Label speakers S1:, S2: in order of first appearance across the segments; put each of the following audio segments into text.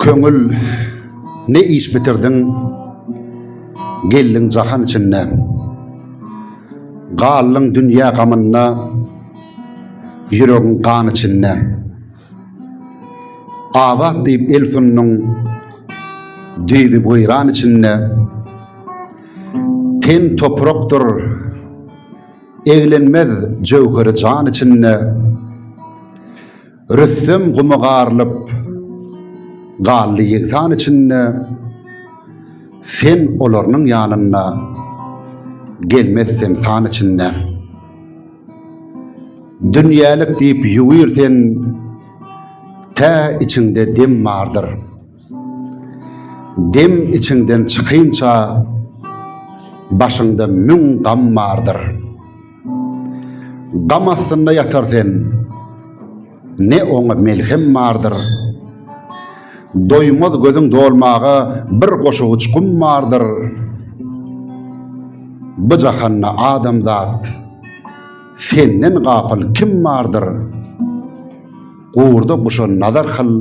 S1: Köňül, ne iş bitirdiň, geldiň jahan içinde. Galdyň dünýe gamynda, ýüregiň gan içinde. Azat diýip el sunduň, düýbi weýran içinde. Ten toprakdyr, eglenmez jöwheri jan içinde. Rüstem guma garylyp galdy ýegsan içinde, Sen olarynyň ýanynda gelmez sen san içinde. Dünýälik diýip ýuwir sen, tä içiňde dem bardyr. Dem içiňden çykynça, başyňda müň gam bardyr. Gam astynda ýatar sen, ne oňa melhem bardyr. Doýmaz gözüň dolmaga bir goşawuç gum bardyr. Bu jahanda adamzat, senden gapyl kim bardyr? Gowurda guşa nazar kyl,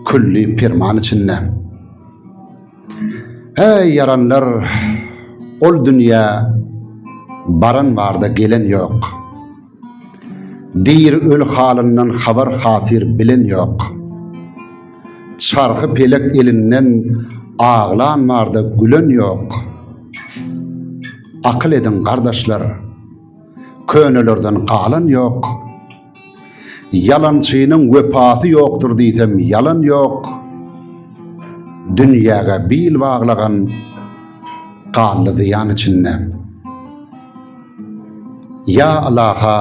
S1: külli perman içinde. Äý ýaranlar, ol dünýä baran barda gelen ýok. Diri öl halyndan habar hatyr bilen ýok. Çarhy pelek elinden aglan barda gülen ýok. Akyl ediň gardaşlar, könelerden galan ýok. Ýalançynyň wepasy ýokdur diýsem ýalan ýok. Dünýäge bil baglagan ganly zyýan içinde. Ýa Alaha,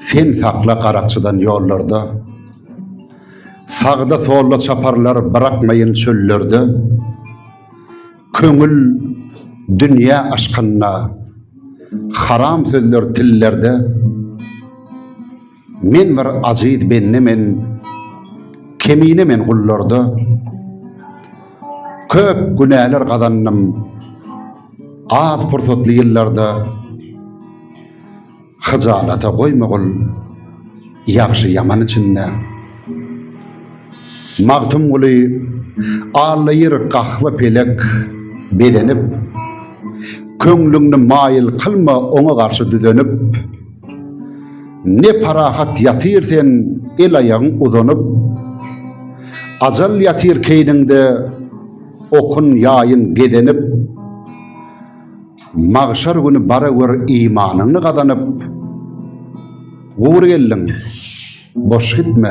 S1: sen sakla garakçydan ýollarda. Sagda solda çaparlar bırakmayın çöllerde. Köňül dünýä aşkynda haram sözler tillerde Men bir aziz bende men kemine men gullarda Köp günäler gazandym az pursatly ýyllarda Hyjalata goýmagul ýagşy ýaman içinde. Magtymguly allaýyr gahwa pelek bezenip, Köňlüňni maýyl kylma oňa garşy düzenip. Ne parahat ýatyr sen el-aýagyň uzanyp, Ajal ýatyr keýniňde okun ýaýyn gezenip. Magşar güni bara gör imanyňy gazanyp, Gury geldiň, boş gitme,